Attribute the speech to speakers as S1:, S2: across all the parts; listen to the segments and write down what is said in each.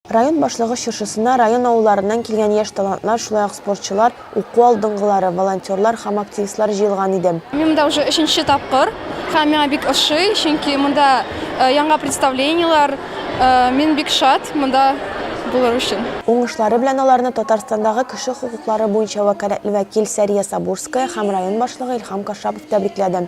S1: Район башлыгы чыршысына район авылларыннан килгән яшь талантлар, шулай ук спортчылар, уку алдынгылары, волонтерлар һәм активистлар җыелган иде. Мин монда уже өченче
S2: тапкыр һәм миңа бик ошый, чөнки монда яңа представлениеләр, мин бик шат монда булыр өчен. Уңышлары белән аларны
S1: Татарстандагы кеше хокуклары буенча вәкаләтле вәкил Сәрия Сабурская һәм район башлыгы Илһам Кашапов тәбрикләде.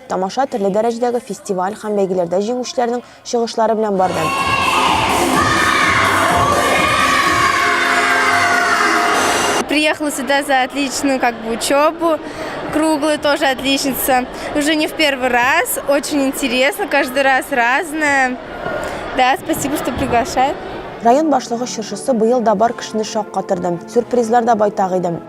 S1: Тамаша төрле дәрәҗәдәге фестиваль һәм бәйгеләрдә җиңүчеләрнең чыгышлары белән барды.
S3: Приехала сюда за отличную как бы учебу, круглая тоже отличница. Уже не в первый раз, очень интересно, каждый раз разное. Да, спасибо, что приглашают. Район башлыгы
S1: чыршысы быел да бар кешене шаккатырды. Сюрпризлар да байтак иде.